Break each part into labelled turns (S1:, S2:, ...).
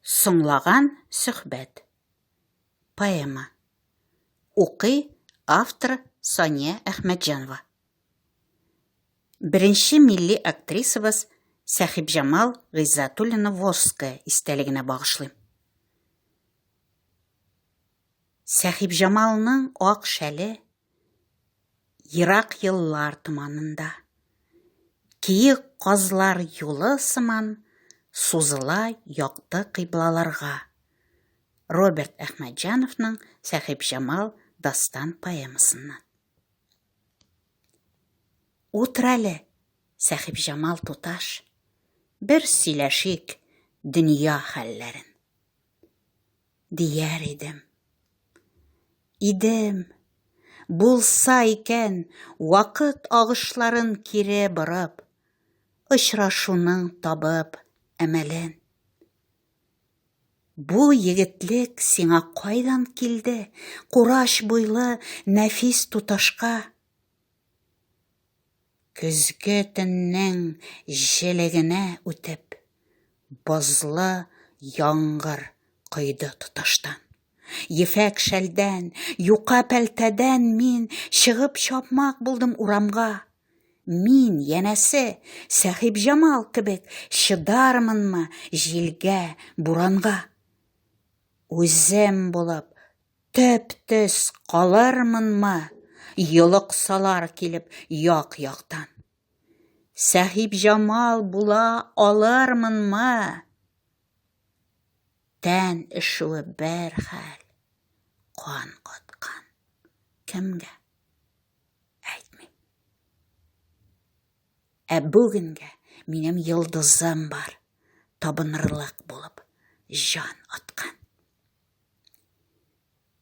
S1: Соңлаган сөхбәт. Поэма. Укый автор Сания Әхмәтҗанова. Беренче милли актрисабыз Сәхибҗамал Гыйззатуллина Ворская истәлегенә багышлыйм. Сәхибҗамалның ак шәле, Ерак еллар томанында. Киек казлар юлы сыман сузыла якты кыйблаларга. Роберт Әхмәтҗановның Сәхибҗамал дастан поэмасыннан. Утыр әле, Сәхибҗамал туташ, бер сөйләшик дөнья хәлләрен. дияр идем. Идем, булса икән, вакыт агышларын кире борып, очрашуның табып әмәлен. Бу егетлек сиңа кайдан килде, кураш буйлы нәфис туташка? Көзге төннең җелегенә үтеп, бозлы яңгыр койды тоташтан. Ефәк шәлдән, юка пәлтәдән мин чыгып чапмак булдым урамга. Мин, янәсе, Сәхибҗамал кебек чыдармынмы җилгә, буранга? Үзем булып Төп-төс калырмынмы, йолыксалар килеп як-яктан. Сәхибҗамал була алырмынмы? Тән эшүе бер хәл, кан каткан. Кемгә? Әйтмим. Ә бүгенгә минем йолдызым бар, табынырлык булып җан аткан.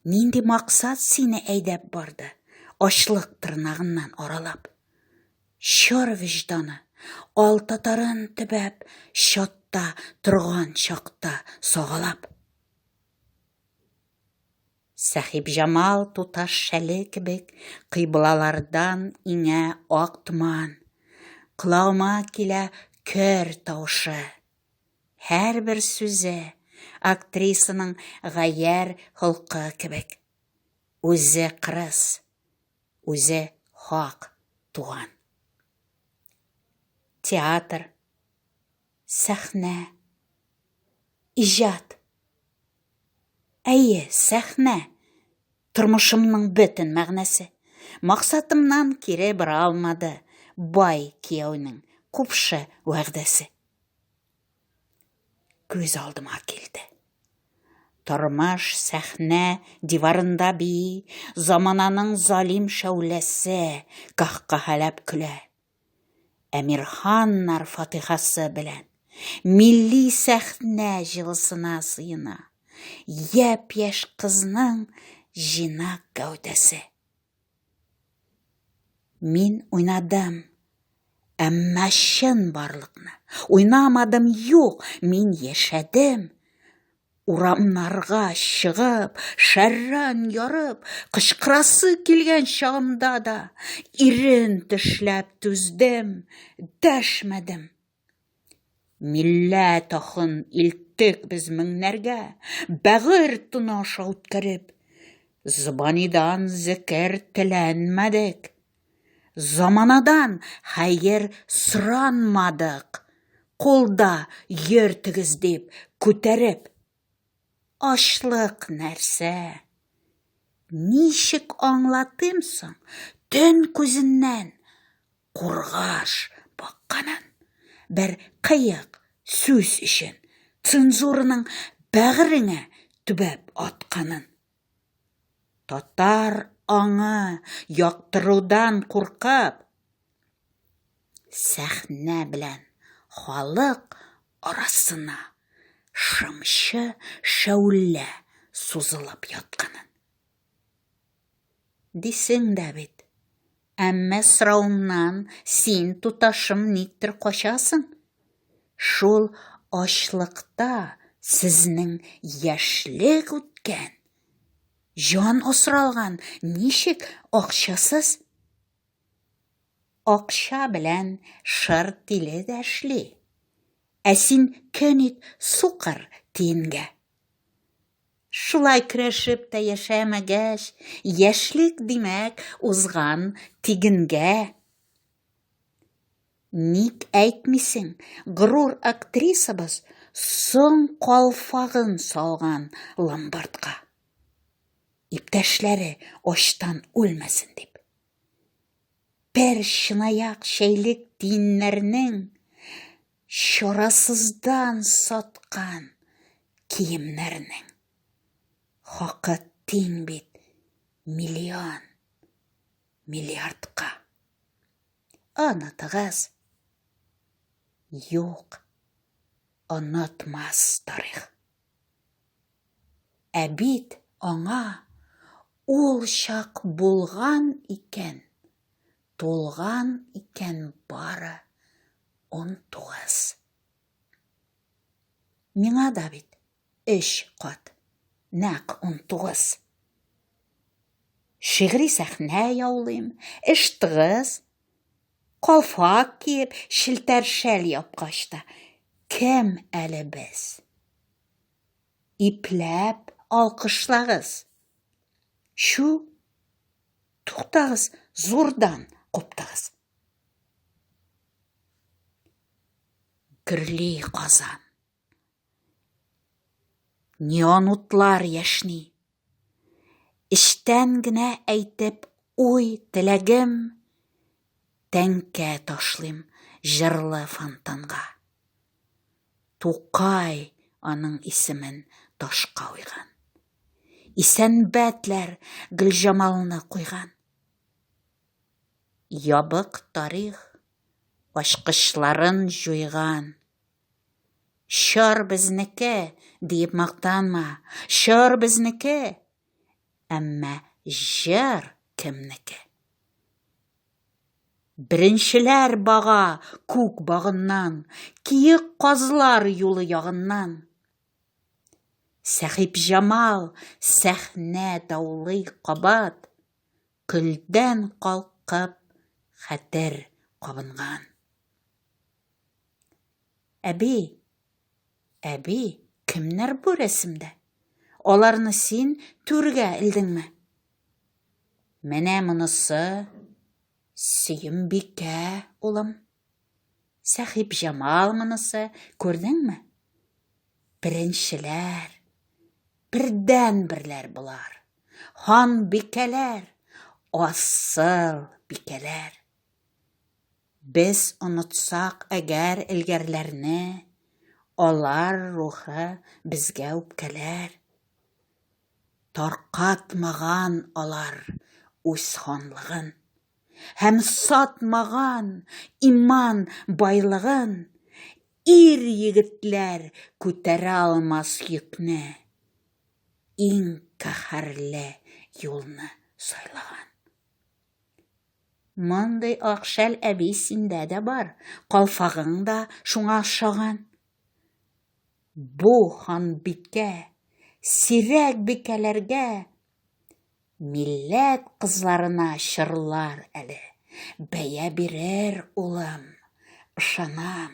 S1: Нинди максат сине әйдәп барды? Ачлык тырнагыннан аралап. Чор вижданы, ал татарын төбәп, чатта торган чакта сагалап. Сәхиб Җамал туташ шәле кебек кыйблалардан иңә ак томан. Колагыма килә көр тавышы. Һәрбер сүзе актрисаның гаярь холкы кебек. Үзе кырыс, үзе хак туган. Театр, сәхнә, иҗат. Әйе, сәхнә, тормышымның бөтен мәгънәсе. Максатымнан кире бара алмады бай кияүнең купшы вәгъдәсе. Күз алдыма килде. Тормыш сәхнә диварында би, замананың залим шәүләсе каһкаһәләп көлә. Әмирханнар фатихасы белән милли сәхнә җылысына сыена. Япь-яшь кызның җинак гәүдәсе. Мин уйнадым. Әмма чын барлыкны уйнамадым, юк, мин яшәдем. Урамнарга чыгып, шәрран ярып, кычкырасы килгән чагымда да ирен тешләп түздем, дәшмәдем. Милләт ахын илттек без меңнәргә, Бәгырь туны аша үткәреп. Зыбанидан зекер теләнмәдек, Заманадан хәер соранмадык, Кулда йөртегез дип күтәреп. Ачлык нәрсә? Ничек аңлатыйм соң, Төн күзеннән Кургаш бакканын бер кыек сүз өчен цензураның бәгыреңә төбәп атканын. Татар аңы яктырудан куркып, сәхнә белән халык арасына шымчы шәүлә сузылып ятканын. Дисең дә бит. Әмма сорауыңнан син, туташым, никтер качасың. Шул ачлыкта сезнең яшьлек үткән, җан осралган, ничек акчасыз? Акча белән шыр тиле дә эшли. Ә син көнит сукыр тиенгә. Шулай көрәшеп тә яшәмәгәч, яшьлек, димәк, узган тигенгә. Ник әйтмисең, горур актрисабыз соң калфагын салган ломбардка. Иптәшләре ачтан үлмәсен дип. Бер чынаяк чәйлек тиеннәрнең чарасыздан саткан киемнәрнең хакы тиң бит миллион миллиардка. Онытыгыз. Юк. Онытмас тарих. Ә бит аңа ул чак булган икән, тулган икән бары 19. Миңа да бит өч кат, нәкъ унтугыз. Шигъри сәхнә яулыйм, эш тыгыз. Калфак киеп, челтәр шәл япкач та, кем әле без? Ипләп алкышлагыз. Чү, туктагыз, зурдан куптыгыз. Гөрли казан. Неон утлар яшни. Эчтән генә әйтеп уй теләгем тәңкә ташлыйм җырлы фонтанга. Тукай аның исемен ташка уйган. Исәнбәтләр Гөлҗамалны куйган. Ябык тарих ачкычларын җуйган. Чор безнеке, диеп мактанма, чор безнеке, әмма җыр кемнеке? Беренчеләр бага күк багыннан, киек казлар юлы ягыннан. Сәхибҗамал сәхнә даулый кабат, Көлдән калкып, хәтер кабынган. Әби, әби, кемнәр бу рәсемдә? Аларны син түргә элдеңме? Менә монысы Сөембикә, улым. Сәхип Җамал монысы, күрдеңме? Беренчеләр, бердән-берләр болар. Хан бикәләр, асыл бикәләр. Без онытсак әгәр элгәрләрне, алар рухы безгә үпкәләр. Таркатмаган алар үз ханлыгын. Һәм сатмаган иман байлыгын, Ир-егетләр күтәрә алмас йөкне, Иң каһәрле юлны сайлаган. Мондый ак шәл әби синдә дә бар, Калфагың да шуңа ошаган. Бу ханбикә сирәк бикәләргә милләт кызларына чырлар әле, бәя бирер, улым, ышанам.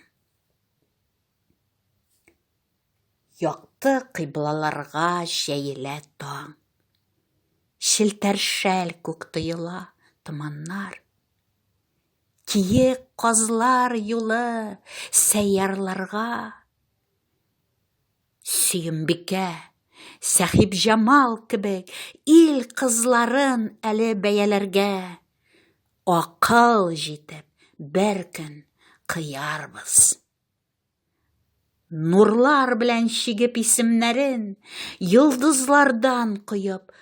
S1: Якты кыйблаларга җәелә таң. Челтәр шәл күк тоела, томаннар. Киек казлар юлы сәйярларга. Сөембикә, Сәхибҗамал кебек ил кызларын әле бәяләргә. Акыл җитеп, бер көн кыярбыз. Нурлар белән чигеп исемнәрен, Йолдызлардан коеп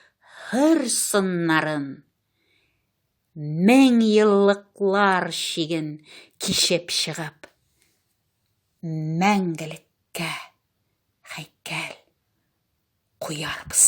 S1: хөр сыннарын. Мең еллыклар чиген кичеп чыгып, Мәңгелеккә хәйкәл куярбыз.